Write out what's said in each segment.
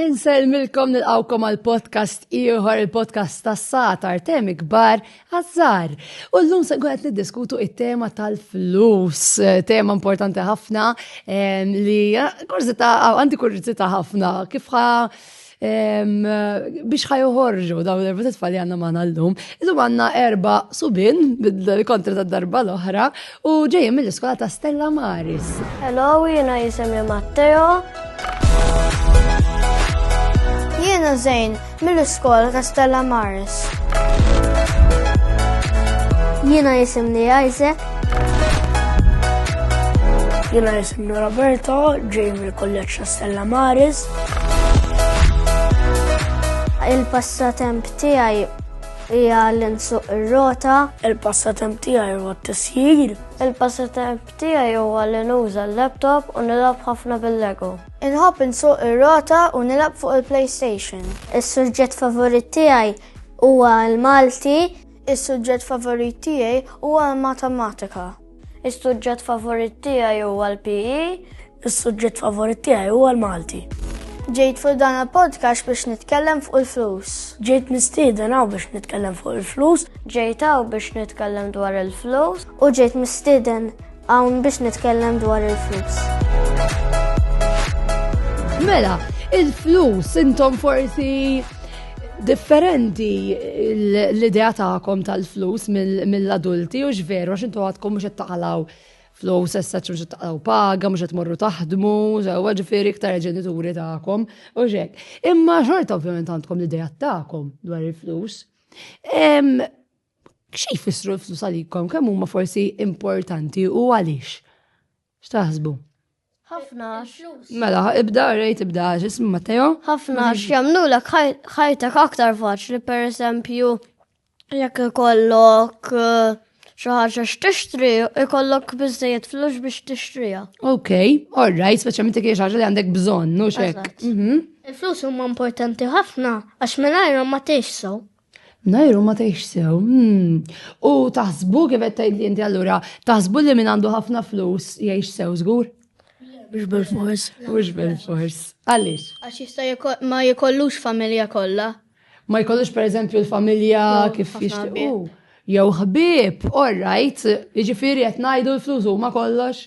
Insellmilkom nilqawkom għal podcast ieħor il-podcast tas satar temi kbar għazzar. U llum se qed niddiskutu it-tema tal-flus, tema importanti ħafna li kurzita għandi kurzita ħafna kif biex ħajuħorġu dawn l-erba tfal li għanna maħna l-lum. Illum għanna erba subin, kontra ta' darba l-oħra, u ġejjem mill-iskola ta' Stella Maris. Hello, jena jisemni Matteo. Jena Zejn, mill-iskola ta' Stella Maris. Jena jisemni Isaac. Jena jisemni Roberto, ġejjem mill-kolleġ ta' Stella Maris. Il-passatemp tiegħi hija li nsuq ir-rota. Il-passatemp tiegħi huwa t-tisjir. Il-passatemp tiegħi huwa li nuża l-laptop u nilgħab ħafna bil-Lego. Inħobb insuq ir-rota u nilgħab fuq il-PlayStation. Is-suġġett favorit tiegħi huwa l-Malti. Is-suġġett favorit tiegħi huwa l-matematika. Is-suġġett favorit tiegħi huwa l-PE. Is-suġġett favorit tiegħi huwa l-Malti. Ġejt fuq dan il-podcast biex nitkellem fuq il-flus. Ġejt mistieden hawn biex nitkellem fuq il-flus. Ġejt hawn biex nitkellem dwar il-flus. U ġejt mistieden hawn biex nitkellem dwar il-flus. Mela, il-flus intom forsi Differenti l-idea tagħkom tal-flus mill-adulti u x'veru għax intu għadkom mhux qed taqalaw flus essa mhux qed taqalaw paga, mhux qed morru taħdmu, sewwa ġifieri iktar ġenituri tagħkom u x'hekk. Imma xorta ovvjament għandkom l-idea tagħkom dwar il-flus. Xi jfissru l-flus għalikom kemm huma forsi importanti u għaliex? X'taħsbu? ħafna għax. Mela, ibda, rejt ibda għax ismu Matteo. ħafna għax jamlu l ħajtek aktar faċli, per esempio, jekk ikollok eh, xaħġa x-tixtri, ikollok bizzejiet flux biex tixtrija. Ok, all right, speċjalment jekk xaħġa li għandek bżonn, nu xek. Mhm. Il-flus huma importanti ħafna għax minn ma tixsu. Mnajru ma tgħix sew. Hmm. U taħsbu kif qed tgħidli inti allura, taħsbu li min għandu ħafna flus jgħix sew żgur? Mhux bil-fors. Mhux bil-fors. Għaliex? Għax jista' ma jkollux familja kollha. Ma jkollux pereżempju l-familja kif jixtiequ. Jew ħbieb, all right, jiġifieri qed ngħidu l-flus huma kollox.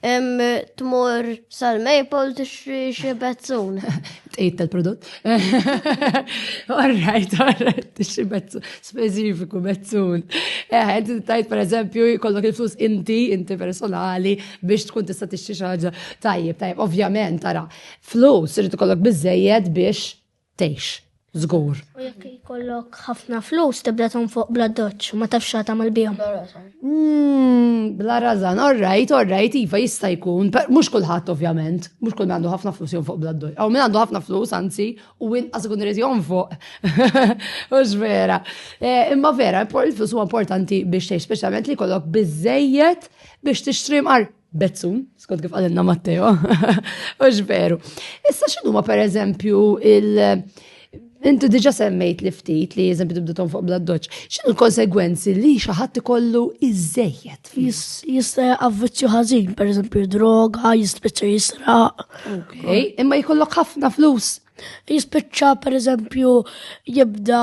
Tmur sal-Maple tixri xi bezzun. Tqejt tal-prodott. Orrajt, orrajt, tixri bezzun, speċifiku bezzun. Eh, inti tajt per eżempju, kollok il-flus inti, inti personali, biex tkun tista' tixri xi ħaġa. Tajjeb, tajjeb, ovvjament, tara, flus irid ikollok biżejjed biex tgħix, żgur. U jekk jkollok ħafna flus tibda tonfoq bla doċċ, ma tafx xa tagħmel bihom. Mm, bla razan, orrajt, orrajt, iva jista' jkun, mhux kulħadd ovvjament, mhux kull għandu ħafna flus jonfoq bla doċċ. Aw min għandu ħafna flus anzi u inqas ikun irid jonfoq. Mhux vera. Eh, imma vera, il-flus huwa importanti biex tgħix, speċjalment li jkollok biżejjed biex tixtri mar Bezzum, skont kif għalenna Matteo, ux veru. Issa xinu ma per eżempju il- Intu diġa semmejt li ftit li eżempju tibdutom fuq bladdoċ. ċin il-konsegwenzi li xaħat ikollu iżżejjed? Jista avvizzju ħażin, per eżempju droga, jispiċċa jisraq. Ok, imma jkollok ħafna flus. jispiċċa per eżempju jibda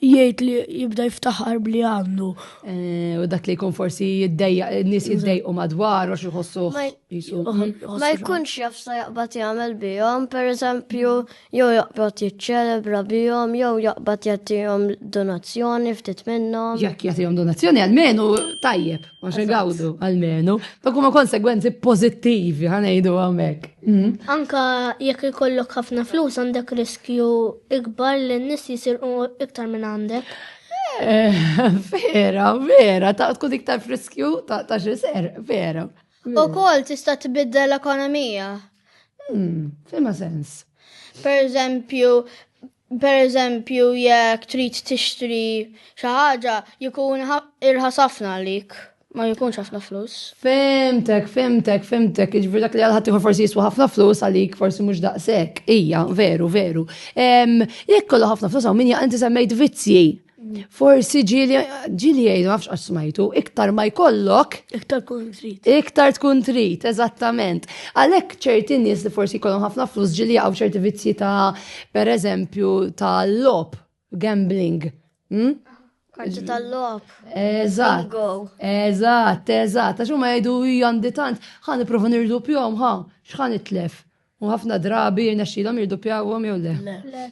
jgħid li jibda jiftaħar bli għandu. Eh, u dak li jkun forsi jiddejja, n-nis jiddejqu madwar, u xieħossu. Ma jkunx jafsa jaqbat jgħamil bijom, per eżempju, jew jaqbat jiċċelebra bijom, jew jaqbat jgħatijom donazzjoni ftit minnom. Jek jgħatijom donazzjoni għalmenu tajjeb. Għax igawdu, għalmenu. Dak huma konsegwenzi pozittivi, ħanejdu għamek. Mhm. Anka jekk ikollok ħafna flus għandek riskju ikbar li n-nis jisirqu iktar minn għandek. Eh, vera, vera, ta' tkun iktar friskju ta' xiser, vera. U kol tista' tibidda l-ekonomija. Hmm, fima sens. Per eżempju, Pereżempju, jekk trid tixtri xi ħaġa jkun irħas ħafna għalik, ma jkunx ħafna flus. Fimtek, fimtek, fimtek, jiġifieri dak li għal ħadd forsi jiswa ħafna flus għalik forsi mhux daqshekk. Ija, veru, veru. Jekk kollu ħafna flus hawn min jaqgħod inti semmejt vizzji. Forsi ġili, ġili jgħidu, għafx għax smajtu, iktar ma jkollok. Iktar tkun trit. Iktar tkun trit, eżattament. Għalek ċerti nies li forsi jkollhom ħafna flus ġili għaw ċerti vizzji ta' per eżempju ta' lop, gambling. Hmm? Karti tal-lop. Eżatt. Eżatt, eżatt. Għax ma jgħidu għandi tant, ħan iprofa nirdu pjom, ħa, xħan itlef. U ħafna drabi jirnexxilhom jirduppjawhom jew le? Le. Le.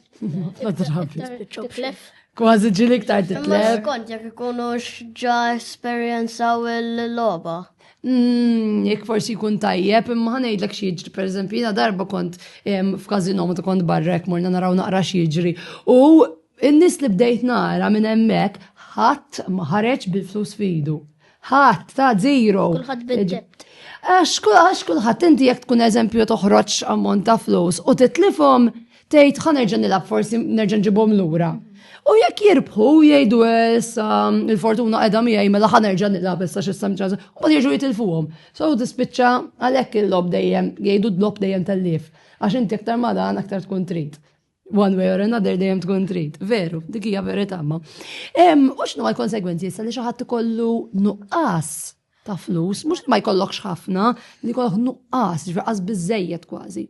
Ħafna drabi. Titlef. Kważi ġili iktar titlef. Skont jekk ikunu xġa esperjenzaw il-logħba. Mm, jekk forsi jkun tajjeb, imma ħanejdlek xi jiġri, pereżempju, jiena darba kont f'każino meta kont barra hekk morna naraw naqra xi jiġri. U n-nies li bdejt nara minn hemmhekk ħadd ma ħareġ bil-flus fidu. Ħadd ta' zero. Kulħadd bid-debt. Għax kulħadd inti jekk tkun eżempju toħroġ ammont ta' flus u titlifhom tgħid ħa nerġa' nilgħab forsi nerġa' nġibhom lura. U jekk jirbħu jgħidu issa il-fortuna qiegħda miegħi mela ħa nerġa' nilgħab issa xi sam ċans, u jiġu jitilfuhom. So tispiċċa għalhekk il-lob dejjem jgħidu d-lob dejjem tellif. Għax inti aktar ma dan aktar tkun trid. One way or another dejjem tkun trid. Veru, dik hija verità ma. Hemm u x'nu l-konsegwenzi issa li xi ħadd ikollu nuqqas ta' flus, mhux ma jkollokx ħafna, li jkollok nuqqas, ġveqas biżejjed kważi.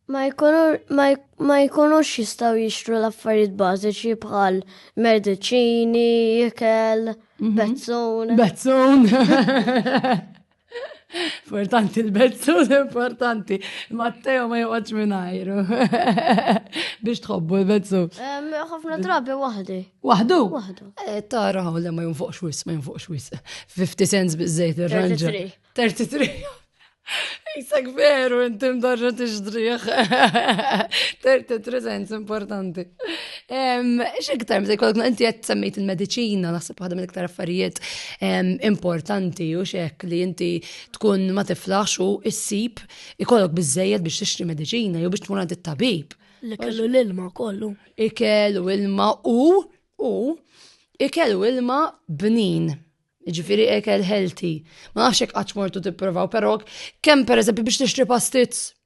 Ma jkunux jistaw jixtru l-affarijiet bażiċi bħal mediċini, ikel, mhm. bezzun. Bezzun. Importanti l-bezzul, importanti. Matteo ma joqgħodx mingħajru. Biex tħobbu l-bezzul. Ħafna drabi waħdi. Waħdu? Waħdu. Eh, tara ħaw li ma jinfuqx wis, ma jinfuqx wis. 50 cents bizzejt ir-ranġa. 33. Isak veru, intim darġa t-ġdriħ. 33 cents importanti. X'iktar, mżej kollok, inti qed semmejt il-mediċina, naħseb waħda mill-iktar affarijiet importanti u xek li inti tkun ma tiflax u issib ikollok bizzejed biex tixtri medicina jew biex tkun għad it-tabib. Li kellu l-ilma kollu. Ikel u ilma u u ikel u ilma bnin. Ġifiri ikel healthy. Ma nafx hekk qatt mortu tipprovaw, però kemm pereżempju biex tixtri pastizz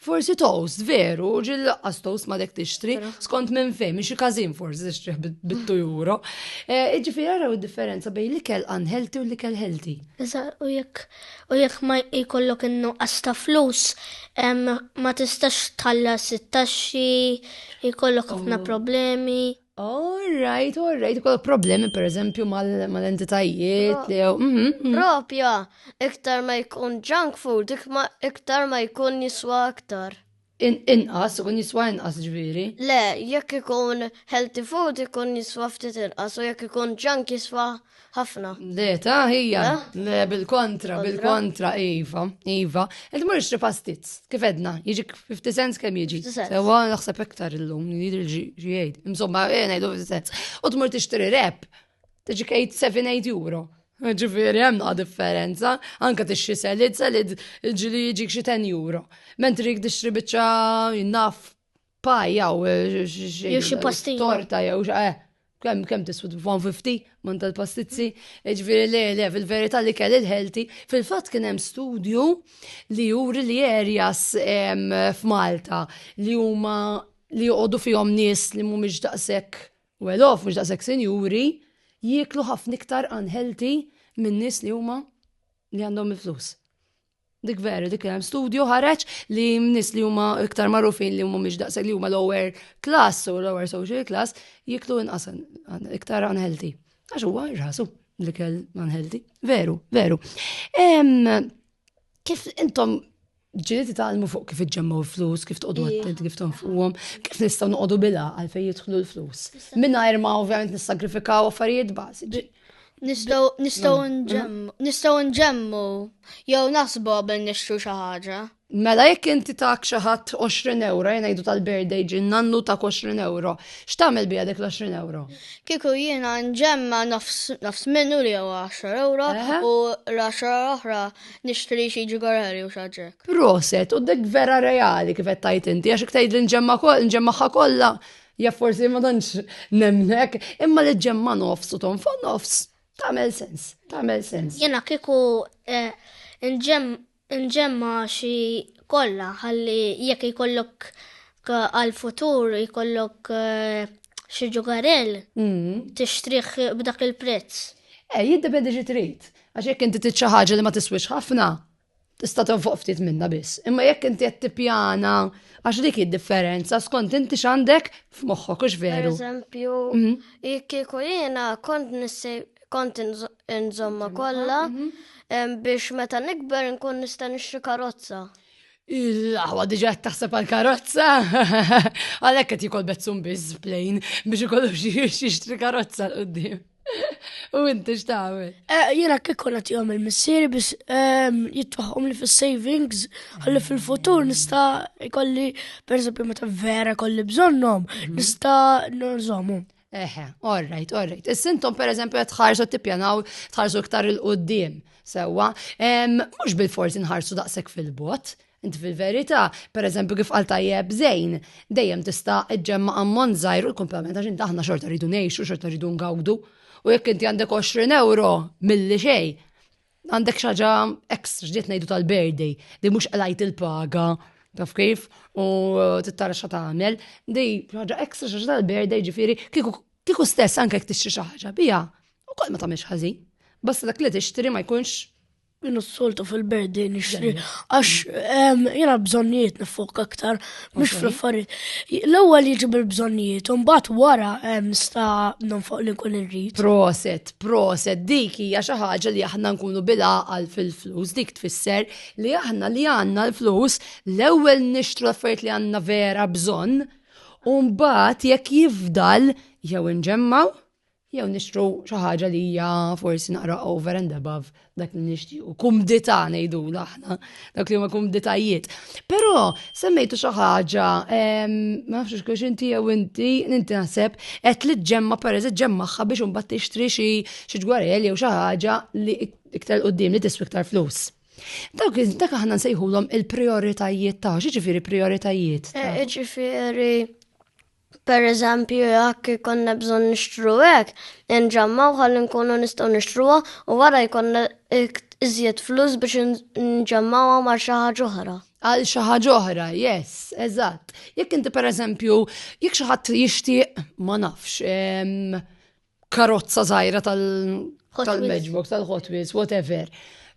Forsi toast, veru, ġil laqqas toast ma dek tixtri, skont minn fejn, minn xi każin forsi tixtri bit-2 euro. Eh, Ġifi għaraw id-differenza bejn li kell unhealthy u li kell healthy. Iżda, u jekk u jekk ma jkollok innu ta' flus, ma tistax tħallas it-taxxi, jkollok ħafna oh. problemi. Alright, alright, kol problemi per eżempju mal-entitajiet. Mhm, mhm. Propja, iktar ma jkun junk food, iktar ma jkun jiswa aktar. Inqas, ikun jiswa inqas ġviri. Le, jekk ikun healthy food ikun jiswa ftit inqas, u jekk ikun junk jiswa ħafna. Le, ta' hija. Le, bil-kontra, bil-kontra, Iva, Iva. Ed mur ixtri pastizz, kif edna, jiġi 50 cents kem jiġi. Sewa naħseb iktar illum, jidri ġiħed. Insomma, jena jdu 50 cents. U tmur tixtri rep, tiġi 7-8 euro. Ġifiri, hemm naqa differenza, anka tixtri selid, selid ġili jiġi xi 10 euro. Mentri jik tixtri biċċa jinnaf paja u jew xi pastilla. Torta jew eh, kem kem tisfud 150 man tal-pastizzi, ġviri le le fil-verita li kell il-healthy, fil-fat kien hemm studju li juri li areas f'Malta li huma li joqogħdu fihom nies li mhumiex daqshekk well off, mhux daqshekk sinjuri, jieklu ħafna iktar unhealthy minn nies li huma li għandhom il-flus. Dik veru, dik hemm studju ħareġ li nis li huma iktar magħrufin li huma mhix daqshekk li huma lower class u lower social class jiklu inqas iktar unhealthy. Għax huwa irħasu li kell unhealthy. Veru, veru. Kif intom ġili titgħalmu fuq kif iġġemmu flus, kif tqogħdu għattent, kif tonfuhom, kif nistgħu noqogħdu bila għalfejn jidħlu l-flus. Mingħajr ma ovvjament nissagrifikaw affarijiet bażiċi. Nistgħu nġemmu jew nasbu qabel nixtru xi ħaġa. Mela jekk inti tak xi ħadd 20 euro, jien ngħidu tal-birthday ġin nannu ta' 20 euro, x'tagħmel biha dik l-20 euro? Kieku jiena nġemma nofs minnu li jew 10 euro u l-10 oħra nixtri xi ġigarari u xaġek. Proset, u dik vera reali kif qed tajt inti, għax iktajd li nġemma nġemmaħħa kollha Ja forsi ma tantx nemnek, imma li ġemma nofs u tonfo nofs, tagħmel sens, tagħmel sens. Jena kieku eh, nġemma xi kollha ħalli jekk jkollok eh, għal-futur jkollok eh, xi ġugarell mm. tixtrih b'dak il-prezz. Eh, jiddependi xi trid. Għax jekk inti trid xi ħaġa li ma tiswix ħafna, Tista' tonfoq ftit minnha biss, imma jekk inti qed tippjana għax dik id-differenza skont inti x'għandek f'moħħok hux veru. Eżempju, mhm. jekk kieku jiena kont nissi kont inżomma kollha mhm. biex meta nikber nkun nista' nixtri karozza. Il-aħwa diġa taħseb għal karozza, għalhekk qed jikol bezzum biss plejn biex ikollu xi jixtri karozza l-qudiem. U inti x'tagħmel? Eh, jiena kif konna tihom il-missieri biex ehm, jitwaħħom li fis-savings ħalli fil-futur nista' jkolli pereżempju meta vera kolli bżonnhom mhm. nista' nżommu. Eħe, all right, all right. Is-sintom pereżempju qed tħarsu tippjanaw tħarsu iktar il-qudiem sewwa. Mhux bil-forsi nħarsu daqshekk fil-bot, Inti fil-verità, pereżempju kif qal tajjeb Zejn, dejjem tista' ġġemma' ammont żgħir u l-kumplament għax inti aħna xorta rridu ngħixu, xorta rridu ngawdu. U jekk inti għandek 20 euro milli xejn, għandek xaġa ekstra ġdiet ngħidu tal-birthday li mhux qlajt il-paga taf kif u tittara xa tagħmel, di ħaġa ekstra xaġa tal-birthday ġifieri kieku stess anke jekk tixtri xi ħaġa biha, ukoll ma tagħmilx ħażin. Basta dak li tixtri ma jkunx Minnu s-soltu fil-berdi nixtri, għax ehm, jena bżonnijiet nifok aktar, mux fl-affarijiet. L-ewwel jiġi bil-bżonnijiet, un bat wara ehm, nista nifok li kun irrit. Proset, proset, dik hija xi ħaġa li aħna nkunu bil-għaqal fil-flus, dik tfisser li aħna li għandna l-flus l-ewwel nixtru affarijiet li għandna vera bżonn, un bat jekk jifdal jew nġemmaw jew nixtru xi ħaġa li hija forsi naqra over and above dak li nixtiequ. Kumdità ngħidu aħna, dak li huma kumditajiet. Però semmejtu xi ħaġa, ma nafx kux inti jew inti, inti naħseb qed li ġemma pereżi ġemmaħħa biex imbagħad tixtri xi xi ġwarel jew xi ħaġa li iktar qudiem li tiswi iktar flus. Dawk dak aħna nsejħulhom il-prioritajiet ta' xi ġifieri prioritajiet. Eh, ġifieri Per eżempju, jekk ikonna bżonn nixtru hekk, inġammgħu ħalli nkunu nistgħu nixtruha u wara jkollna iżjed flus biex nġammgħuha ma' xi ħaġa oħra. Għal xi ħaġa oħra, yes, eżatt. Jekk inti per eżempju, jekk xi ħadd jixtieq, ma nafx, karozza żgħira tal-matchbox, tal-Hot Wheels, whatever.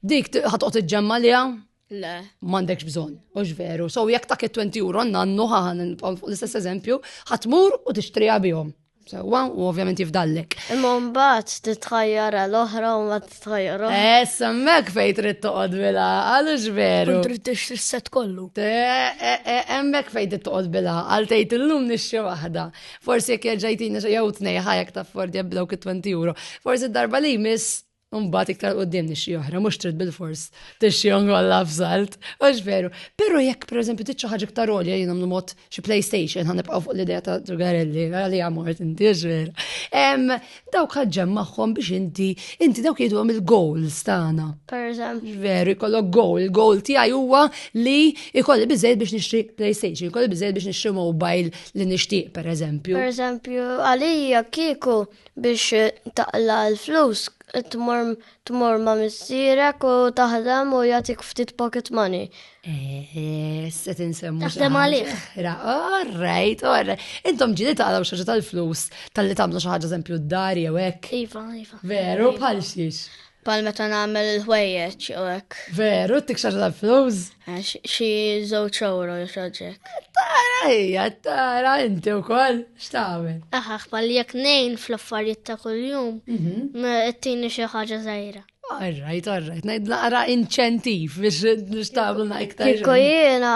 Dik ħatqgħod iġġemma liha Le. M'għandekx bżonn, mhux veru. So jekk ta' 20 euro nannu ħaħan l-istess eżempju, ħatmur u tixtriha bihom. Sewa u ovvjament jifdallek. Imma mbagħad titħajjara l-oħra u ma titħajjara. Eh, semmek fejn trid toqgħod bilha, għalux veru. Trid tixtri set kollu. Eh, eh, eh, hemmhekk fejn trid toqgħod bilha, għal tgħid illum nixxi waħda. Forsi jekk ġejtina jew tnej ħajek ta' Ford jabdawk 20 euro. Forsi darba li jmiss Umbat iktar qoddim nixxi oħra, mux trid bil-fors, tixxi ongolla f'salt, mux veru. Pero jekk, per eżempju, titxu ħagġa iktar olja jina mnu mod xi PlayStation, għan nibqaw fuq l-idea ta' drugarelli, għalli għamort, inti veru. Dawk ħagġem maħħom biex inti, inti dawk jidu għam il-goals tagħna. Per eżempju. Veru, jkollok goal, il-goal tiegħi huwa li jkolli bizzejt biex nixtri PlayStation, jkolli bizzejt biex nixtri mobile li nixtieq, per eżempju. Per eżempju, għalija kiku biex taqla l-flus tmur tmur ma' missierek u taħdem u jagħtik ftit pocket money. Eh, se tinsemmu. Taħdem għalih. All right, all right. Intom ġili taqlaw xaġa tal-flus tal-li tagħmlu xi ħaġa eżempju d-dar jew hekk. Iva, iva. Veru, bħal xiex. Pal meta nagħmel il-ħwejjeġ u hekk. Veru, tik xaġa tal-flus? Eh, xi żewġ euro xaġek. Tara hija, tara inti wkoll x'tagħmel. Aħax pal jekk nejn fl-affarijiet ta' kuljum, mhm. tini xi ħaġa żgħira. Arrajt, arrajt, najd naqra inċentiv biex nishtablu na iktar. Kiko jena,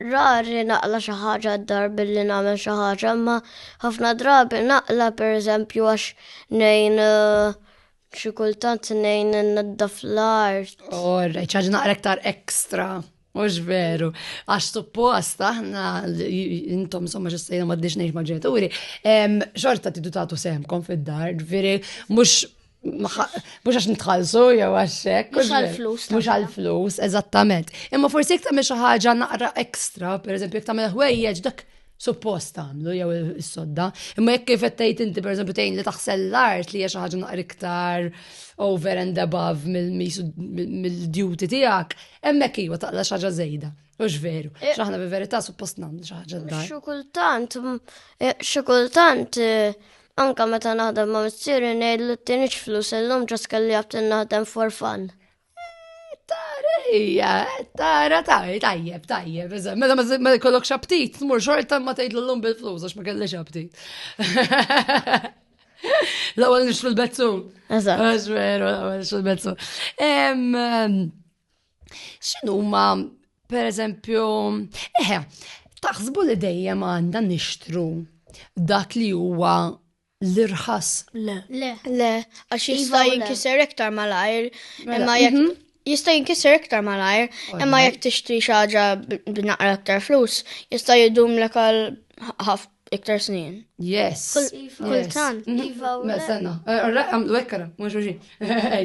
rari naqla xaħġa d-dar billi namen xaħġa, ma ħafna drabi naqla per eżempju għax nejn uh, Xi kultant nejn naddaf l-art. Orre, ċaġ naqra iktar ekstra. Mux veru, għax suppost aħna intom somma ġessajna ma d-dix neħx maġġenituri, xorta t tatu semkom fid-dar, veri, mux Mux għax nitħalsu, jew għaxek. Mux għal-flus. Mux għal-flus, eżattament. Imma forsi jek tamil xaħġa naqra ekstra, per eżempju, jek tamil ħwejjeġ, dak suppost tagħmlu jew is-sodda. Imma jekk kif qed tgħid inti pereżempju tgħin li taħsel l-art li hija xi ħaġa naqra iktar over and above mill-duty tiegħek, hemmhekk iva taqla xi ħaġa żejda. Mhux veru. Eh. X'aħna bi verità suppost nagħmlu xi ħaġa daj. Xi kultant, eh, xi kultant eh, anka meta naħdem ma' missieri ngħidlu t-tienix flus illum ġas kelli għabtin naħdem for fun. Tara hija, tara tara, tajjeb, tajjeb, iżem, mela ma jkollokx aptit, tmur xorta ma tgħidlu llum bil-flus għax ma kellix aptit. L-ewwel nixtru l-bezzum. Eżatt. Għax veru, l-ewwel nixtru l-bezzum. X'inhuma, pereżempju, eħe, taħsbu li dejjem għandna nixtru dak li huwa l-irħas. Le. Le. Le, għax iva jista' jinkiser iktar malajr, mela, imma jekk mhm. jista' jinkisser iktar malajr, imma jekk tixtri xi ħaġa b'naqra iktar flus, jista' jidum l għal ħaf iktar snin. Yes. Iva. Kultant. Mhm. Iva u mela, Sena. Eh, għamlu ekkara, mux uġi.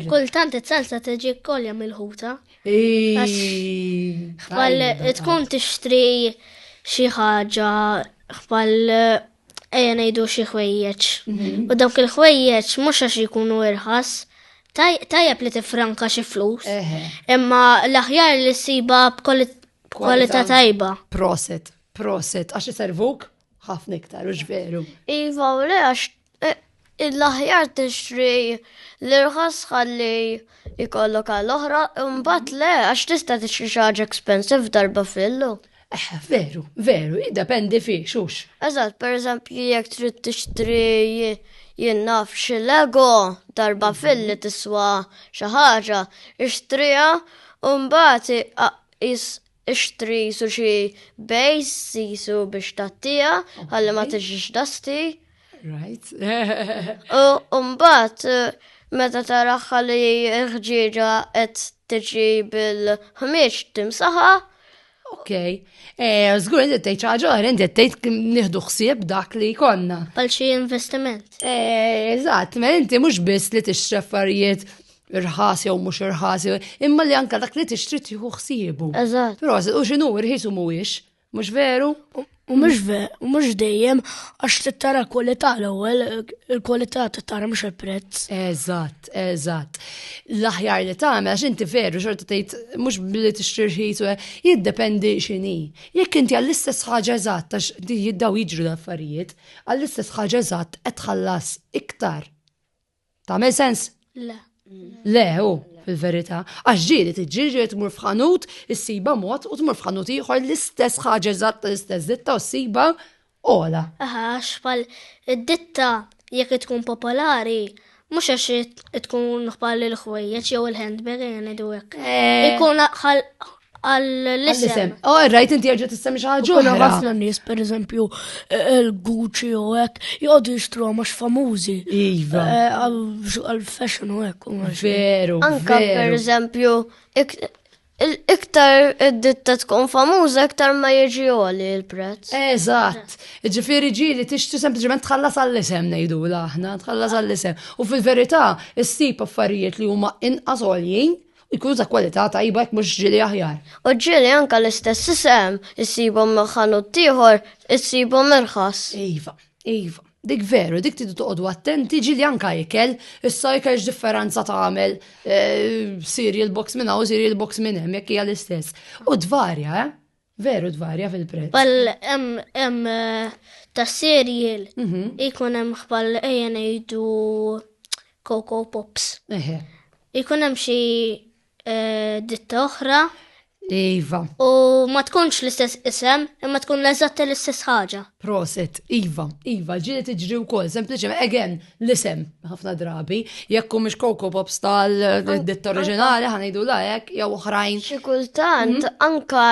Kultant it-salsa tiġi kolja mill-ħuta. Għal tkun tixtri xi ħaġa għal Ejja ngħidu xi ħwejjeġ. Mhm. U dawk il-ħwejjeġ mhux għax jkunu irħas, tajjeb li tifranka xi flus. Imma l-aħjar li ssiba b'kwalità tajba. Proset, proset, għax iservuk ħafna iktar, u veru. Iva, u le għax eh, L-aħjar tixtri l-irħas ħalli jkollok għal oħra, imbagħad le għax tista' tixtri xi ħaġa expensive darba fillu. Eh, veru, veru, jiddependi fi xux. Eżatt, per eżempju, jekk trid tixtri jinnaf xi lego darba filli tiswa xi ħaġa, ixtriha u mbagħad is Ixtri qisu xi bejs qisu biex tattija ħalli ma tiġix dasti. Right. U mbagħad meta taraħ li ħġieġa qed tiġi bil-ħmieġ timsaħa. Ok. Eh, Zgur, inti tgħid ċaġa, inti tgħid nieħdu ħsieb dak li konna. Għal xi investiment. Eh, eżatt, ma inti mhux biss li tixtri affarijiet irħas jew mhux irħas, imma li anka dak li tixtri tieħu ħsiebu. Eżatt. Però u x'inhu irħis u mhuwiex, mhux veru? U mhux veru, u mhux dejjem għax tittara kwalità l-ewwel, il-kwalità tittara mhux il-prezz. Eżatt, eżatt. L-aħjar li tagħmel għax inti veru xorta tgħid mhux billi tixtri rħis u jiddependi x'inhi. Jekk inti għall-istess ħaġa eżatt għax jiddaw jiġru l-affarijiet, għall-istess ħaġa eżatt qed tħallas iktar Tagħmel sens? Le. Le, u fil-verità. Għax ġiri tiġġiġi tmur f'ħanut, issiba mod u tmur f'ħanut ieħor l-istess ħaġa eżatt l-istess ditta u ssiba ola. Aha, xpal id-ditta jekk tkun popolari, mhux għax tkun bħal il-ħwejjeġ jew il-handbag jien idu hekk. Eh. Ikun Għall-isem. Oh, rajt inti għagġa t-isem xaħġu. Kuna għafna nis, per eżempju, il-Gucci eh, eh, u għek, jgħodu jistru għamax famużi. Iva. Eh, għal-fashion u għek. Veru. Anka, per eżempju, iktar id-ditta tkun famuża, iktar ma jieġi għoli il-prezz. Eżatt. Ġifiri ġili tixtu sempliciment tħallas għall-isem nejdu l-aħna, tħallas għall-isem. U fil-verita, s-sip affarijiet li huma inqas għoljien, Ikunu ta' kwalità tajba jekk mhux ġieli aħjar. U ġieli anke l-istess isem issibhom ħanut ieħor issibhom irħas. Iva, iva. Dik veru, dik tidu toqgħodu attenti ġieli anke ikel, issa ikel x'differenza tagħmel cereal eh, box minn hawn cereal box minn hemm jekk hija l-istess. U tvarja, eh? Veru tvarja fil-prezz. Bal hemm hemm eh, ta' cereal mhm. ikun hemm bħal ejja ngħidu Coco Pops. Eħe. Ikun hemm xi eh, ditta oħra. Iva. U ma tkunx l-istess isem, imma tkun l-eżatt l-istess ħaġa. Proset, Iva, Iva, ġili tiġri wkoll, sempliċement, again, l-isem ħafna drabi, jekk mhux Coco Pops tal-ditt oriġinali ħanejdu la hekk jew oħrajn. Xi kultant mhm. anka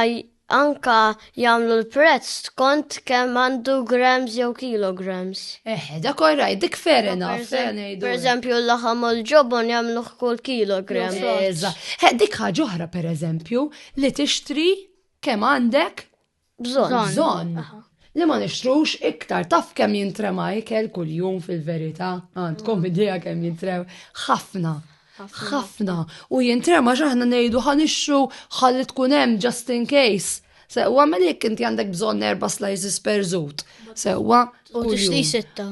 anka jagħmlu l-prezz skont kemm għandu grams jew kilograms. Eh, da korraj, dik fair enough. Per eżempju, l-laħam u l-ġobon jagħmlu kull kilogram. Eh, dik ħaġa oħra per eżempju li tixtri kemm għandek bżonn. Bżonn. Li ma nixtrux iktar taf kemm jintrema ikel kuljum fil-verità, għandkom mm. idea kemm jintrew ħafna. ħafna. U jintrema x'aħna ngħidu ħanixxu ħalli tkun hemm just in case. Sewwa minn jekk inti għandek bżonn erba' slices per żut. Sewwa. U tixti sitta.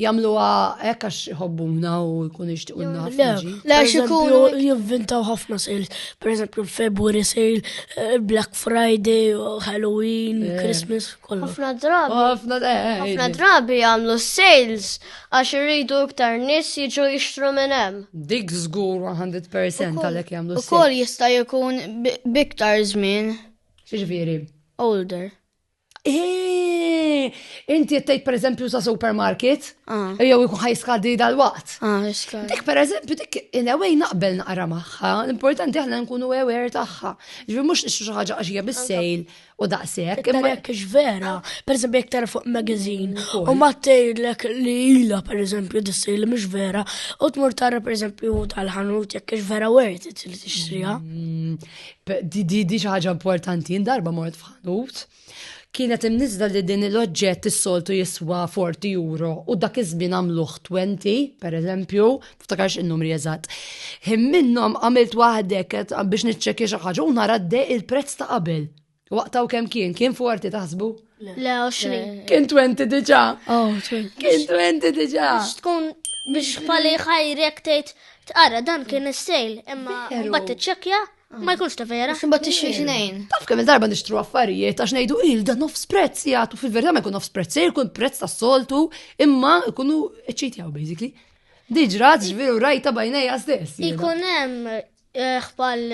Jamluha hekk għax iħobbuna u jkunu jixtiqulna ħafna. Le, għax ikunu jivvintaw ħafna sales. Per eżempju, February sale, eh, Black Friday, Halloween, eh. Christmas, kollu. Ħafna drabi. Oh, ħafna eh, drabi jagħmlu sales għax irridu iktar nies jiġu jixtru minn hemm. Dik żgur 100% għalhekk jagħmlu sales. Ukoll jista' jkun biktar żmien. Xiġifieri? Older. Eeeh, inti qed tgħid pereżempju sa supermarket, ah. jew ikun ħajskadi dal-waqt. Ah, dik pereżempju dik in a way naqbel naqra magħha, l-importanti aħna nkunu aware tagħha. Ġifier mhux nixtru xi ħaġa għax hija bissejl u daqshekk. Imma jekk vera, pereżempju jekk tara fuq magazine u ma tgħidlek li ilha pereżempju dissej li mhux vera, u tmur tara pereżempju tal-ħanut jekk vera worth it li tixtriha. Mm, di xi ħaġa importanti, darba mort Nut, kienet imnizla li din l-oġġett is-soltu jiswa 40 euro u dak iż-żmien għamluh 20, per eżempju, ftakarx in-numri eżatt. Him minnhom għamilt waħdek biex niċċekkja xi ħaġa u nara dej il-prezz ta' qabel. Waqtaw kemm kien, kien 40 taħsbu? Le, 20. Kien 20 diġà. Oh, kien 20 diġà. Tkun biex pali ħajrek tgħid tqara dan kien is-sejl, imma mbagħad tiċċekkja Ma jkunx ta' vera. Imbagħad tixtri xnejn. Taf kemm darba nixtru affarijiet għax ngħidu il da nofs prezz jagħtu fil-verità ma jkun nofs prezz, se jkun prezz tas-soltu imma jkunu ċċejtjaw basically. Diġra ġveru rajta bajnejja stess. Ikun hemm eh, ħbal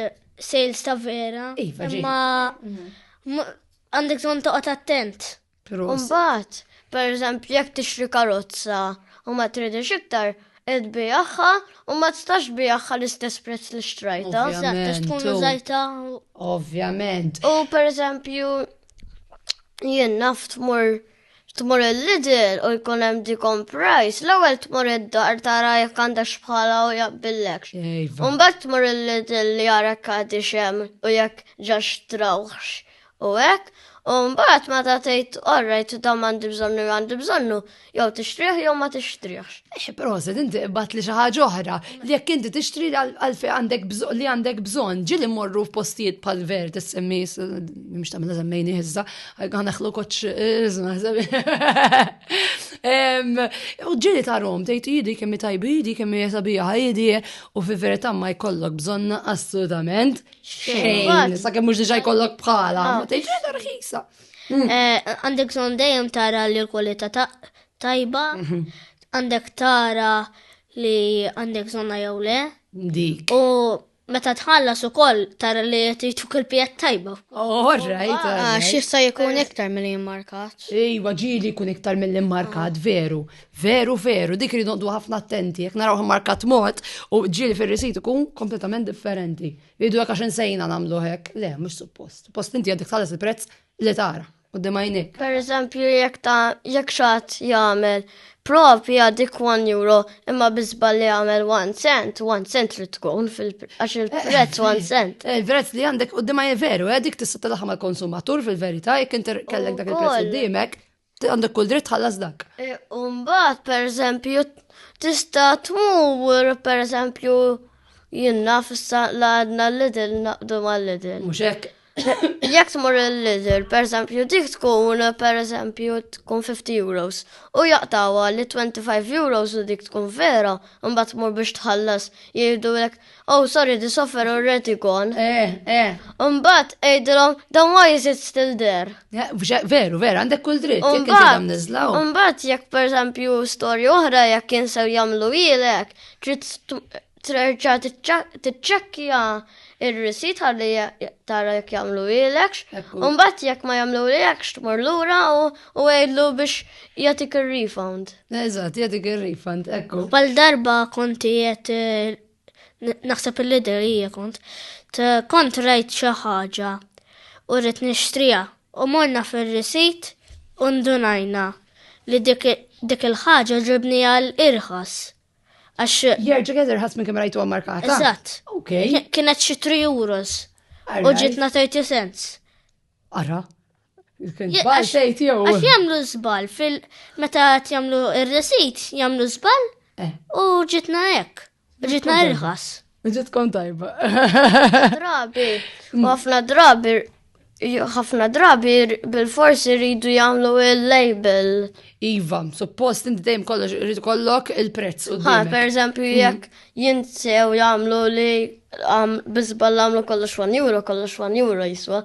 sales ta' vera. Iva, imma mhm. għandek zon toqgħod attent. Mbagħad, pereżempju jekk tixtri karozza u ma tridix iktar, qed bijaħħa u ma tistax bijaħħa l-istess prezz li xtrajta. Ovvjament. Tkun użajta. Ovvjament. U pereżempju jien naf tmur tmur il-lidl u jkun hemm dikom price, l-ewwel tmur id-dar tara jekk għandax bħala u jaqbillek. Imbagħad tmur il-lidl li jara kadi xem u jekk ġax trawħx u hekk, u mbagħad meta tgħid orrajt dan m'għandi bżonnu jew għandi bżonnu, jew tixtrih jew ma tixtrihx. Eh, però se inti qbad li xi ħaġa oħra li jekk inti tixtri għalfejn għandek bżonn li għandek bżonn, ġieli mmorru f'postijiet bħal ver tissemmi mhux tagħmel semmejni iżda, għanaħlu koċ U ġieli tarom, tgħid jidi kemm tajbi, jidi kemm sabiħa, jidi u fi verità ma jkollok bżonn assolutament Xejn. Sa kemm mhux diġà jkollok bħala. Ah. Ma tgħidx qiegħda rħisa. Mm. Eh, għandek son dejjem tara li l-kwalità tajba, mhm. għandek tara li għandek zonna jew le. Dik. U meta tħallas u koll tara li jtiċuk il-pijet tajba. Oh, right. Ah, Xissa jkun iktar mill-li markat. Iwa, ġili jkun iktar mill-li markat, veru. Veru, veru, dik li noqdu ħafna attenti, jek naraw markat mod u ġili fil-risit ikun kompletament differenti. Idu jek għaxin sejna namlu hek, le, mux suppost. Post inti għadik tħallas il-prezz li tara, u d-demajnik. Per eżempju, jek ta' jek xat jgħamil propi għadik 1 euro, imma bizba li jgħamil 1 cent, 1 cent li tkun għax il-prezz 1 cent. Eh, il-prezz li għandek u d-demajnik veru, għadik eh, tista' tal-ħama konsumatur fil-verita, jek inter kellek dak il-prezz u d-dimek, Għandek kull dritt ħallas dak. E, Umbat, per eżempju, tista tmur, per eżempju, jinna fissa l-għadna l-lidil naqdu ma l-lidil. Muxek. Jek tmur l-lidil, per eżempju, dik tkun, per eżempju, tkun 50 euros. U jaqtawa li 25 euros u dik tkun vera, umbat tmur biex tħallas, jgħidu l-ek Oh, sorry, this offer already gone. Eh, eh. Umbat, ejdilom, the wise is still there. Eh, veru, veru, għandek kull dritt, jek għandam nizlaw. Umbat, jek per esempio, story oħra, jek kien sew jamlu ilek, trid treġa tċekkja il-risit għalli tara jek jamlu ilek, umbat jek ma jamlu ilek, tmur l-ura u għedlu biex jatik il-refund. Eżat, jatik il-refund, ekku. Pal darba konti jett eh, naħseb il-lider hija kont, kont rajt xi ħaġa u rrid nixtrija u morna fir-risit u ndunajna li dik il-ħaġa ġibni għal irħas. Għax. Jerġa' kien irħas minn kemm rajtu markata. Eżatt. Kienet xi 3 euros. U ġitna 30 cents. Ara. Il-kitba xejn tiegħu. Għax jagħmlu żball fil meta qed jagħmlu ir-resit, jagħmlu żball eh. u ġitna hekk. Ġitna irħas. Ġit tkun tajba. Drabi, mm. ħafna drabi, ħafna drabi bil-forsi rridu jagħmlu il-label. Iva, suppost inti dejjem kollox rridu kollok il-prezz u Ha, per eżempju, mm. jekk jinsew jagħmlu li biżbal jagħmlu kollox 1 euro, kollox 1 euro jiswa,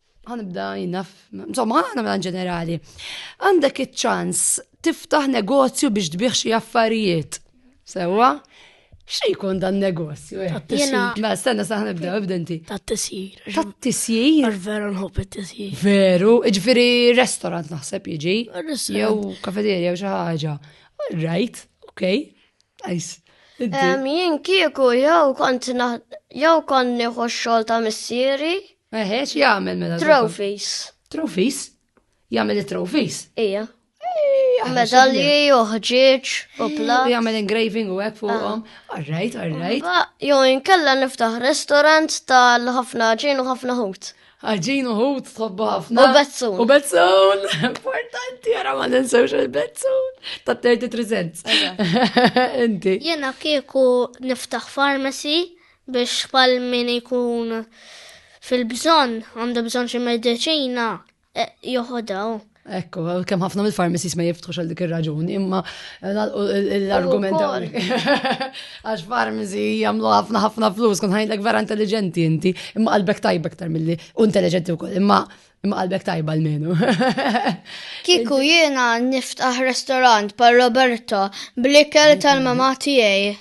Għanibda jinnaf, insomma, għana mela ġenerali. Għandek iċ-ċans tiftaħ negozju biex tbiħ xi affarijiet. Sewa? Xie jkun dan negozju? Eh? Jena. Ma stenna saħan ibda, ibdenti. Ta' tisjir. Ta' tisjir. Għar veru nħob tisjir. Veru, ġifiri restaurant naħseb jiġi. Jew kafeterja jew xi ħaġa. All right, ok. Nice. Jien kieku jew kont jew konni xogħol ta' missieri Eħe, xi jagħmel mela? Trophies. Trophies? Jagħmel it-trophies? Ija. Medalji uħġieġ u pla. Jagħmel engraving u hekk fuqhom. Ah. Alright, alright. Jo inkella niftaħ restaurant tal-ħafna ġin u ħafna ħut. Ħaġin u ħut tħobbu ħafna. U bezzun. U bezzun. Importanti għara ma ninsewx il-bezzun. Ta' 33 cents. Inti. Jena kieku niftaħ farmasi biex bħal min ikun fil-bżonn għandu bżonn xi mediċina eh, joħodha. Ekku, kem ħafna mill-farmacies ma jiftħux għal dik ir-raġuni, imma eh, l-argument għax farmacy jagħmlu ħafna ħafna flus, kun ħajlek vera intelligenti inti, imma qalbek tajbek tar milli u intelligenti wkoll, imma Imma qalbek tajba l-menu. Kiku jiena niftaħ restorant par Roberto blikel tal-mama tiegħi.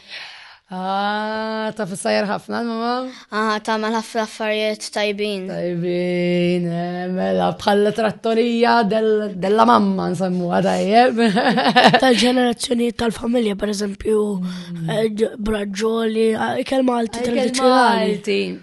Ah, ta' fissajr ħafna l-mama? Ah, ta' mal ħafna affarijiet tajbin. Tajbin, eh, mela bħalla trattorija della mamma nsemmu għadajjeb. Tal-ġenerazzjonijiet tal-familja, per eżempju, mm. eh, braġġoli, eh, kelma għalti tradizjonali.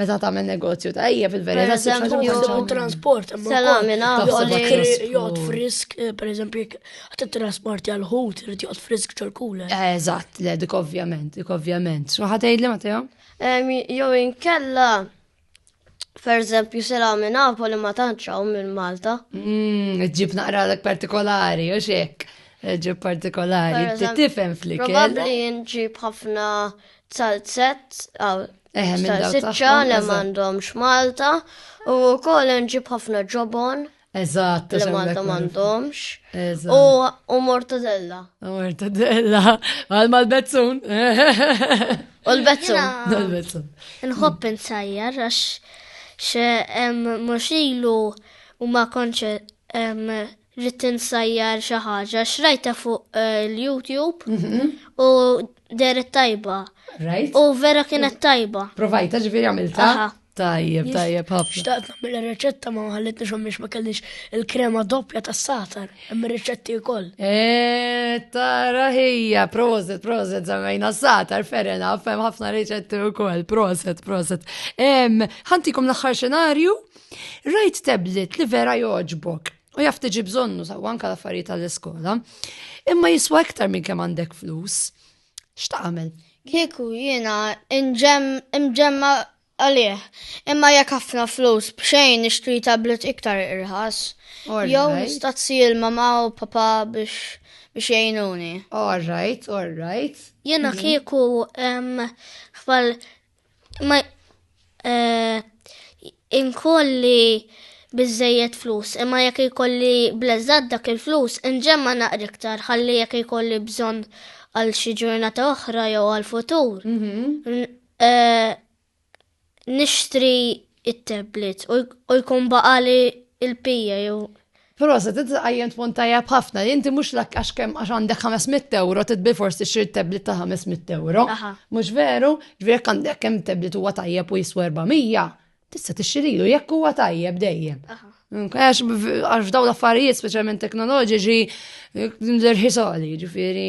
Meta tagħmel negozju ta' hija fil-verità se tagħmel transport. Salami nagħmel jgħod frisk, eh, pereżempju jekk qed trasport għal ħut irid jgħod frisk ċorkule. Eh, eżatt, le dik ovvjament, dik ovvjament. Xi ħadd jgħidli ma tiegħu? Jew inkella Per eżempju, sela minn Napoli ma tanċaw minn Malta. Mm, ġib naqra l partikolari, u xek. Ġib partikolari, tifem flikel. Probabli nġib ħafna salzet, Eħe, minn dawk siċċa li m'għandhomx Malta u wkoll nġib ħafna ġobon. Eżatt, li Malta m'għandhomx. U mortadella. U mortadella. Għal mal-bezzun. U l-bezzun. Nħobb insajjar għax xe mux ilu u ma konċe Rrid insajjar xi ħaġa x'rajta fuq eh, l-YouTube mhm. u deret tajba. Right. U vera kienet tajba. Provajta ġifieri għamilta. Tajjeb, tajjeb, ħafna. Xtaqt nagħmel ir-riċetta ma ħallitni xhom biex ma kellix il-krema doppja tas-satar, hemm ir-riċetti wkoll. Eh, tara ħija, proset, proset żammejna satar ferena, fem ħafna riċetti wkoll, proset, proset. Ħantikom l-aħħar xenarju Rajt tablet li vera joġbok u jaf tiġi bżonnu saw anka l-affarijiet tal-iskola, imma jiswa iktar minn kemm għandek flus. X'tagħmel? Kieku jiena imġemma għalih, imma jekk ħafna flus b'xejn nixtri tablet iktar irħas. Jew nistazzi il-mama u papa biex biex jgħinuni. All right, all right. Jena mhm. kieku xbal Ma eh, inkolli biżejjed flus, imma jekk ikolli bleżad dak il-flus, inġemma naqri iktar ħalli jekk ikolli bżonn għal xi ġurnata oħra jew għal futur. Mhm. Eh, nixtri it-tablet u jkun baqali il-pija jew. Prosa, tinti għajjem tpon tajjeb ħafna, inti mux l għax kem għax għandek 500 euro, titbi forsi xir tablet ta' 500 euro. Mux veru, ġviri għandek kem tablet huwa tajjeb u jiswa 400, tista tixxirilu jekk huwa tajjeb dejjem. Għax f'daw l-affarijiet, specialment teknoloġiċi, l-irħisali, ġifiri.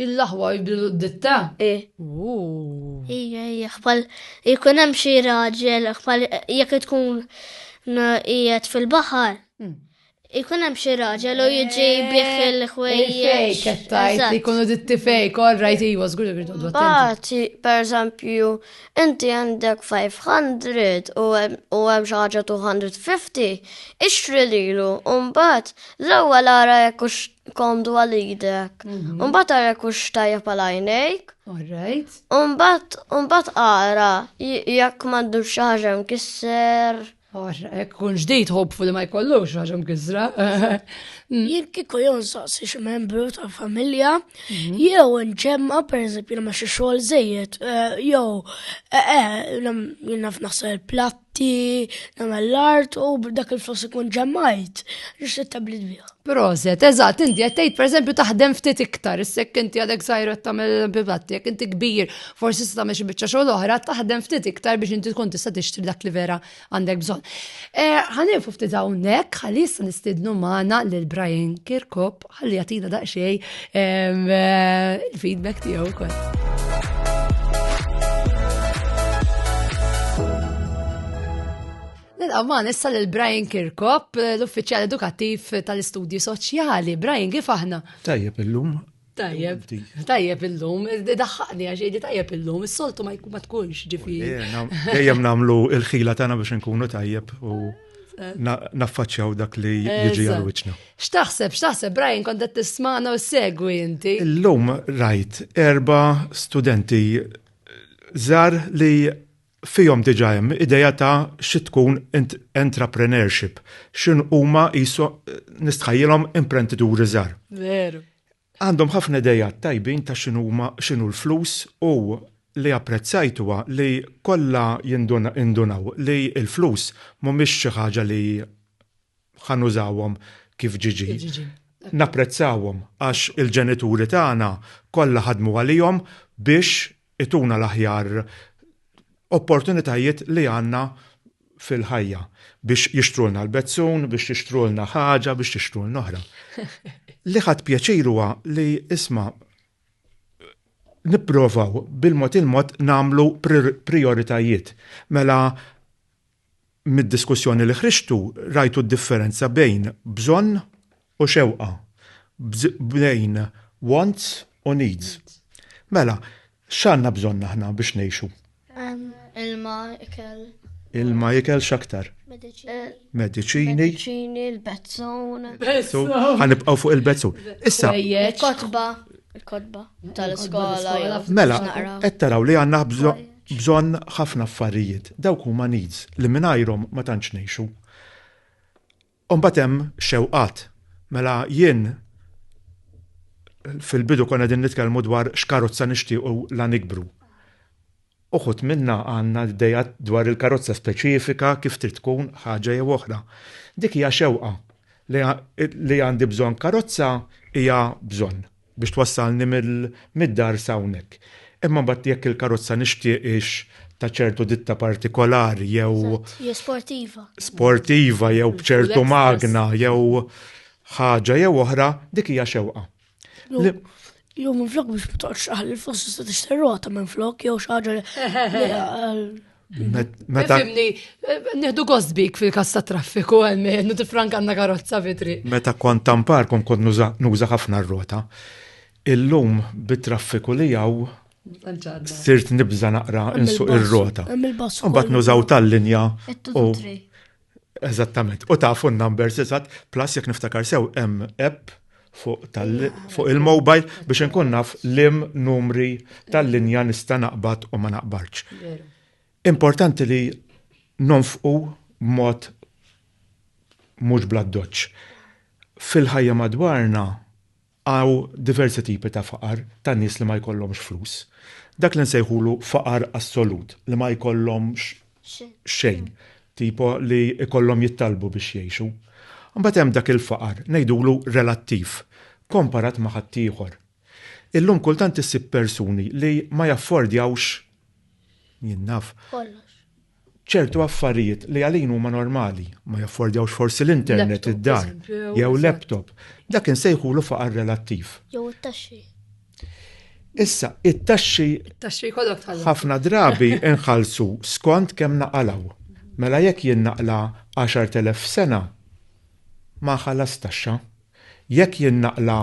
Il-aħwa jbilu d-ditta? Ooh. Ija, ija, bħal jkun hemm xi raġel, bħal jekk tkun qiegħed fil-baħar, jkun hemm xi raġel u jiġi bih il-ħwejjeġ. Fejk tajt li jkunu ditti fejk, all right, iwa, żgur li rridu Bati, per eżempju, inti għandek 500 u hemm xi ħaġa 250, ixtri lilu, u mbagħad l-ewwel ara jekk komdu għal idek. Mhm. Umbat għara kux tajja pal għajnejk. Alright. Umbat, umbat għara jekk mandu xaġem kisser. Ek kun ġdijt hopfu li ma jkollu xaġem kisra. Mm. Jekk kiku jon saqsi xi membru ta' familja, mhm. jew nġemma per eżempju ma xi xogħol żejjed, eh, jew eh, eh, jinnaf naħseb il-platt Ti nagħmel l-art u b'dak il-flus ikun ġemmajt, nixtieq tablet biha. Proset, eżatt, inti qed tgħid pereżempju taħdem ftit iktar, issek inti għadek sajret tagħmel eżempju platti, jekk inti kbir, forsi se tagħmel xi biċċa xogħol oħra, taħdem ftit iktar biex inti tkun tista' tixtri dak li vera għandek bżonn. Eh, Ħanifu ftit hawnhekk, ħalli issa nistidnu magħna lil Brian Kirkop Ħalli jagħtina daqsxejn eh, il-feedback tiegħu wkoll. Nilqaman issa lil Brian Kirkop, l-uffiċjal edukattiv tal-istudji soċjali. Brian, kif aħna? Tajjeb illum. Tajjeb, tajjeb illum, daħħaqni għax li tajjeb illum, is-soltu ma tkunx ġifi. Ejjem namlu il-ħila tagħna biex nkunu tajjeb u naffaċċjaw dak li jiġi għal wiċċna. X'taħseb, x'taħseb Brian kont qed tismagħna u segwi inti? Illum rajt erba' studenti żar li fihom diġa hemm ideja ta' xi tkun entrepreneurship, x'in huma jisu nistħajjilhom imprendituri żgħar. Veru. Għandhom ħafna ideat tajbin ta' x'inhuma x'inhu l-flus u li apprezzajt huwa li kollha jindunaw li l-flus mhumiex xi ħaġa li ħa nużawhom kif ġi ġi. Napprezzawhom għax il-ġenituri tagħna kollha ħadmu għalihom biex Ituna l-aħjar opportunitajiet li għandna fil-ħajja biex jixtrulna l-bezzun, biex jixtrulna ħaġa, biex jixtrulna oħra. Li ħadd pjaċir huwa li isma' nipprovaw bil-mod il-mod namlu prioritajiet. Mela Mid-diskussjoni li ħriġtu rajtu d-differenza bejn bżonn u xewqa, bejn wants u needs. Mela, x'għandna bżonn aħna biex ngħixu? Ilma, ikel. Ilma, ikel, x'aktar? Mediċini. Mediċini, l-bezzun. Bezzun. Ħanibqgħu fuq il-bezzun. Issa. Il-kotba. Il-kotba. Tal-iskola. Mela, qed taraw li għandna bżonn bżonn ħafna affarijiet, dawk huma needs li mingħajrhom ma tantx ngħixu. U mbagħad hemm xewqat. Mela jien fil-bidu konna din nitkellmu dwar x'karozza nixtiequ la nikbru. Uħud minna għandna d-dejja dwar il-karozza speċifika kif trid tkun ħaġa jew oħra. Dik hija xewqa li għandi bżonn karozza hija bżonn. biex twassalni mid-dar s'hawnhekk. Imma mbagħad jekk il-karozza nixtieq hix ta' ċertu ditta partikolari jew. Eżatt, jew sportiva. Sportiva jew b'ċertu magna jew ħaġa jew oħra, dik hija xewqa. Jew minflok biex ma toqgħodx taħli l-fossa se tixtri rota minflok jew xi ħaġa li Meta. Fimni, nieħdu gost bik fil-kas ta' traffiku għalmenu tifrank għandna karozza vitri. Meta kont tampar kon kont nuża ħafna r-rota. Illum bit-traffiku li jaw sirt nibża naqra insuq ir-rota. Mbagħad nużaw tal-linja u Eżattament. U tafu n-numbers eżatt, plus jekk niftakar sew hemm app fuq il-mobile biex inkun naf lim numri tal-linja nista' naqbad u ma naqbadx. Importanti li nonfqu b'mod mhux bladdoċ. Fil-ħajja madwarna Hawn diversi tipi ta' faqar ta' nies li ma jkollhomx flus. Dak li nsejħulu faqar assolut, li ma jkollhomx xejn, tipo li jkollhom jittallbu biex jgħixu. Imbagħad hemm dak il-faqar, ngħidulu relattiv, komparat ma' ħaddieħor. Illum kultant issib persuni li ma jaffordjawx, jien naf, ċertu affarijiet li għalin huma normali, ma jaffordjawx forsi l-internet id-dar, jew laptop, dak insejħulu faqar relattiv. Jew it-taxxi. Issa, it-taxxi. It-taxxi kollok tal Ħafna drabi inħalsu skont kemm naqalaw. Mela jekk jien naqla 10,000 sena, ma ħallas taxxa. Jekk jien naqla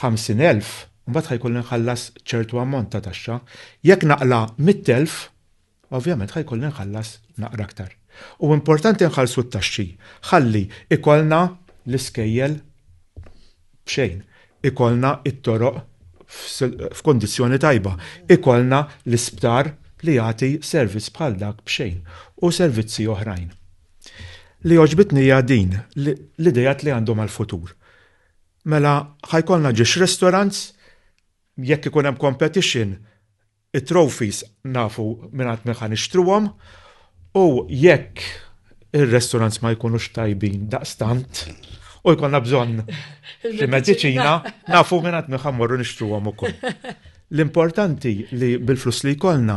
50,000, mbagħad ħajkolli nħallas ċertu ammont ta' taxxa. Jekk naqla 100,000, Ovvjament ħa jkolli nħallas naqra aktar. U importanti nħallsu t-taxxi ħalli ikollna l-iskejjel b'xejn, ikollna t-toroq f'kundizzjoni tajba, ikollna l-isptar li jagħti servizz bħal dak b'xejn u servizzi oħrajn. Li għoġbitni hija din, l-ideat li għandhom għall-futur. Mela ħa jkollna ġiex restaurants, jekk ikun hemm competition, It-trophies nafu mingħand min ħa nixtruhom u jekk ir-restaurants ma jkunux tajbin daqstant u jkollna bżonn xi mediċina nafu mingħand min ħa mmorru nixtruhom ukoll. L-importanti li bil-flus li jkollna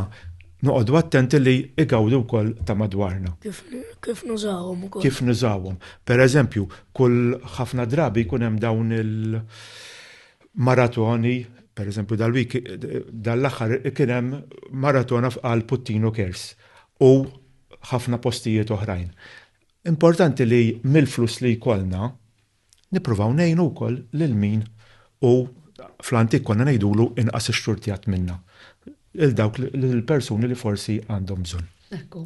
noqogħdu attenti li igawdu wkoll ta' madwarna. Kif nużawhom ukoll? Kif nużawhom? Pereżempju, kull ħafna drabi jkun hemm dawn il- Maratoni, per eżempju dal-week, dal-aħħar kien hemm maratona f'qal Puttino Cares u ħafna postijiet oħrajn. Importanti li mill-flus li jkollna nippruvaw ngħinu wkoll lil min hu fl-antik konna ngħidulu inqas ixxurtjat minna, lil dawk lill-persuni li forsi għandhom bżonn. Ekku.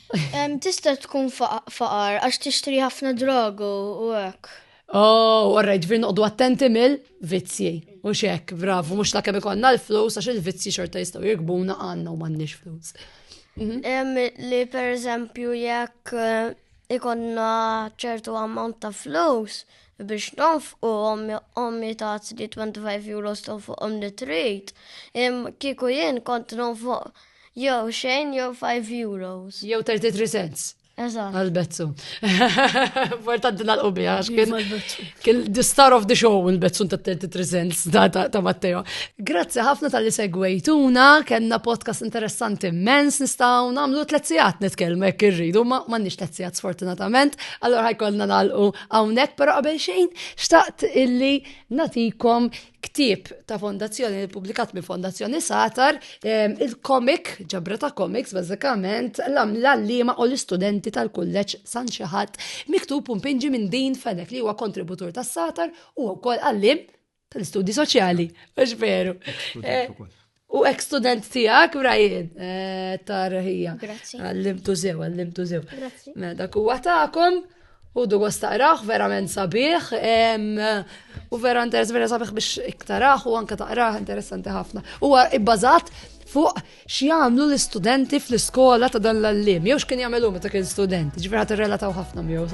Tista' tkun faqar għax tixtri ħafna drogu u hekk. Oh, għarra ġvir noqdu attenti mill vizzji. U xek, bravu, mux ta' kemm ikonna l-flus, għax il-vizzji xorta jistaw jirgbuna għanna u mannix flus. Mhm. Li per eżempju jekk eh, ikonna ċertu ammont ta' flus biex nonf u ommi ta' 25 euro tonf u ommi trit, kiku jien kont nonf Jew xejn jew 5 euros. Jew 33 cents. Eżatt. Għal-bezzu. Importanti nalqu biha għax kien kien the star of the show il-bezzu ta' 33 cents ta' Matteo. Grazzi ħafna tal-li segwejtuna, kellna podcast interessanti immens nistgħu nagħmlu tliet sigħat nitkellmu hekk irridu, ma m'għandniex tliet sigħat sfortunatament, allora ħajkollna nalqu hawnhekk, però qabel xejn xtaqt illi natikom ktieb ta' fondazzjoni li publikat minn fondazzjoni Satar, ehm, il-komik, ġabra ta' komiks, bazzikament, l-allima u l-istudenti tal-kulleċ San Xaħat, miktub un pinġi minn din fenek li huwa kontributur ta' Satar u wkoll għallim tal-istudji soċjali, għax veru. Eh, U ek student tijak, Brian, eh, ta' rħija. Grazzi. Għallimtu zew, għallimtu zew. Grazzi. Mela, dak u għatakom, u du għastaqraħ, verament sabiħ, u vera interess, vera sabiħ biex iktaraħ, u anka taqraħ, interessanti ħafna. U ibbazat fuq x'jagħmlu l-istudenti fl-iskola ta' dan l-allim, jew x'kien jagħmlu meta kien student, ġifier ħadd irrelataw ħafna miegħu